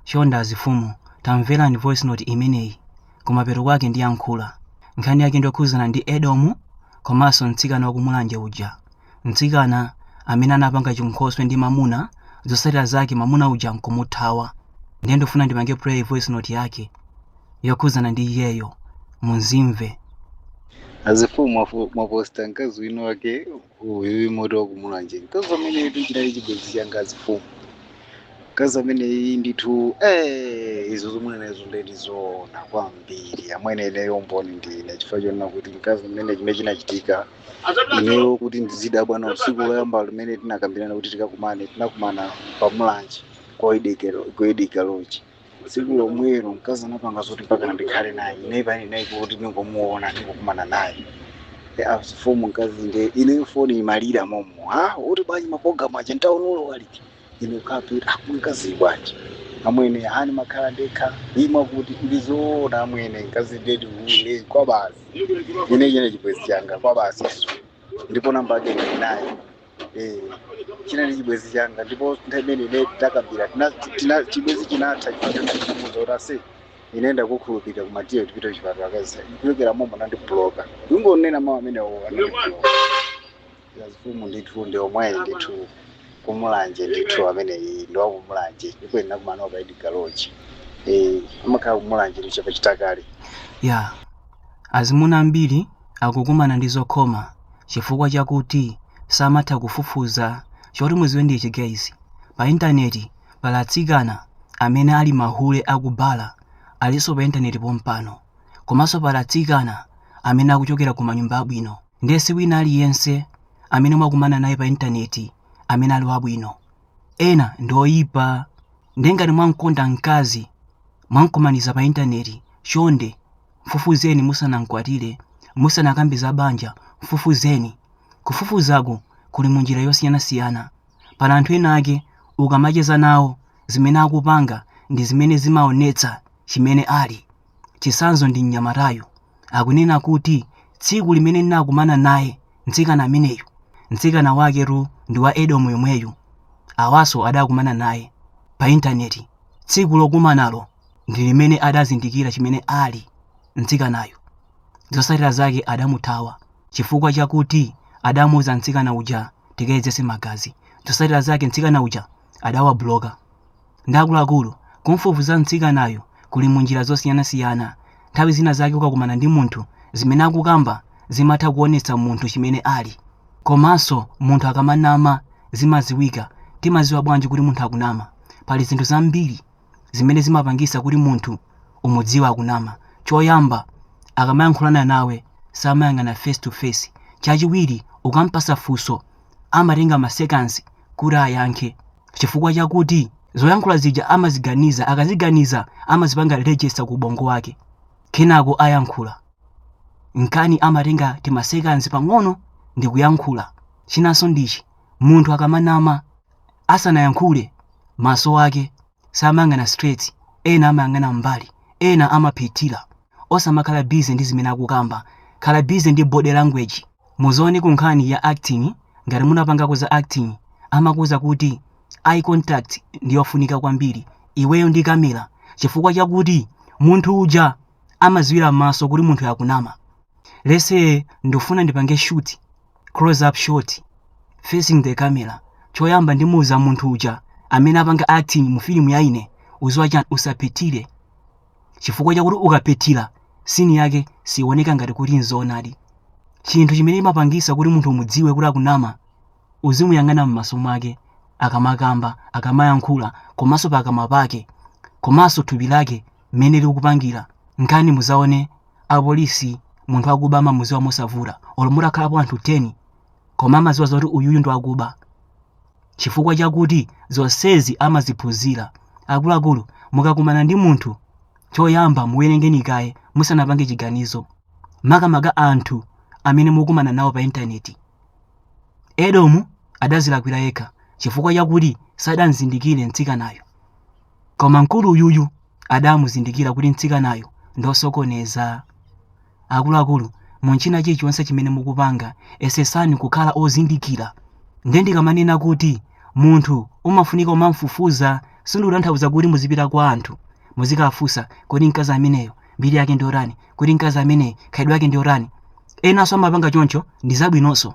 Chonde azifumu tamverani voice note imeneyi kumapeto kwake ndiyankhula. Nkhani yake ndiyokhuzana ndi Edomu komanso mtsikana wa ku Mulanje uja. Mtsikana amene anapanga chinkhoswe ndi mamuna zotsatira zake mamuna uja nkumuthawa. Ndiye ndikufuna ndipange play voice note yake yokhuzana ndi iyeyo mumzimve. Azifumu mwaposta mkazi wina wake uyu mmati wakumulanje mkazi ameneyitu chinali chibwenzi changa azifumu mkazi ameneyi ndithu eh, izo mukunenazo ndedi zoona kwambiri amwene ineyo mboni ndine chifukwa chonena kuti mkazi ameneyi chimene chinachitika ineyo kuti ndizidabwa naye tsiku loyamba limene tinakambirana kuti tikakumane tinakumana pamulanje ku Hididi Kaloji tsiku lomwelo mkazi anapanga zoti mpaka ndikhale naye ineyo pamene ndinali kuti ndingomuona ndingokumana naye Eh, azifumu mkazi nde ineyo foni imalira momo akuti bwanji maprogramu aja ntaunulo waliti ine kapi akumkazi bwanji amwene hani makhala ndekha imva kuti ndizoona amwene mkazi ndedi ule kwabasi ine chinali chibwezi changa kwabasi ndipo namba yake ndinayo Eh, chinali chibwezi changa ndipo nthawi imene ine takambira tina- tina- chibwezi chinatha nditamuuza kuti aise ine ndakukhulupirira koma tiye tipite kuchipatala mkazi kuchokera momo anandibloka kungonena mawu amenewo anandibloka azifumu ndithu ndi omweyi ndithu kumulanje ndithu ameneyi ndi wakumulanje ikwena kumanoka Hididi Kaloji amakhala kumulanje chapa Chitakale ya Azimuna ambiri akukumana ndi zokhoma chifukwa chakuti samatha kufufuza choti muziwe ndi chi guys pa internet pali atsikana amene ali mahule aku bala alinso pa internet pompano komanso pali atsikana amene akuchokera ku manyumba abwino ndiye si wina aliyense amene mwakumana naye pa internet amene ali wabwino ena ndi oyipa ndiye ngati mwamkonda mkazi mwamkumaniza pa internet chonde Mfufuzeni musanamkwatire, musanakambe za banja, mfufuzeni. Kufufuzaku kuli mu njira yosiyanasiyana. Pali anthu ena ake ukamacheza nawo zimene akupanga ndi zimene zimaonetsa chimene ali. Chitsanzo ndi mnyamatayu. Akunena kuti tsiku limene ndinakumana naye mtsikana ameneyu, mtsikana waketu ndi wa Edomu yomweyu. Awanso adakumana naye pa intaneti tsiku lokumanalo. ndi limene adazindikira chimene ali, mtsikanayo zotsatira zake adamuthawa chifukwa chakuti adamuuza mtsikana uja tikayedzetse magazi. Zotsatira zake mtsikana uja adawabloka. Nde akuluakulu, kumfufuza mtsikanayo kuli mu njira zosiyanasiyana. Nthawi zina zake ukakumana ndi munthu, zimene akukamba zimatha kuonetsa munthu chimene ali. Komanso munthu akamanama zimadziwika. Timadziwa bwanji kuti munthu akunama? Pali zinthu zambiri zimene zimapangisa kuti munthu umudziwa akunama choyamba akamayankhulana nawe samayang'ana face to face chachiwiri ukampasa funso amatenga ma seconds kuti ayankhe chifukwa chakuti zoyankhula zija amaziganiza akaziganiza amazipanga register ku ubongo wake kenako ayankhula nkani amatenga timasekanzi pang'ono ndikuyankhula chinanso ndichi munthu akamanama Asanayankhule, maso ake samayang'ana straight, ena amayang'ana m'mbali, ena amaphethira. Osamakhala busy ndi zimene akukamba, khala busy ndi body language. Muzione ku nkhani ya acting, ngati munapangako za acting, amakuuza kuti eye contact ndi yofunika kwambiri iweyo ndi kamera chifukwa chakuti munthu uja amadziwira m'maso kuti munthuyo akunama. Let's say ndifuna ndipange shoot. close up shot facing the camera choyamba ndimuuza munthu uja amene apanga acting mu filimu ya ine uziwa chani usaphethire chifukwa chakuti ukaphethira sini yake siioneka ngati kuti nzoonadi chinthu chimene imapangisa kuti munthu umudziwe kuti akunama uzimuyang'ana m'maso mwake akamakamba akamayankhula komanso pakamwa pake komanso thupi lake mmene likupangira nkani muzaone apolisi munthu akuba amamuziwa mosavura olo mutakhalapo anthu 10 koma amaziwa zoti uyuyu ndiwakuba chifukwa chakuti zonsezi amaziphunzira akuluakulu mukakumana ndi munthu choyamba muwerengeni kaye musanapange chiganizo makamaka anthu amene mukumana nawo pa intaneti edomu adazilakwira yekha chifukwa chakuti sadamzindikire mtsikanayo Koma mkulu uyuyu adamuzindikira kuti mtsikanayo ndosokoneza. Akuluakulu, munchina chilichonse chimene mukupanga, esesani kukhala ozindikira. Nde ndikamanena kuti munthu umafunika umamfufuza sindikutanthauza kuti muzipita kwa anthu muzikafunsa kodi mkazi ameneyo mbiri yake ndiyotani, kodi mkazi ameneyi khalidwe yake ndi yotani. Enanso amapanga choncho ndizabwinonso.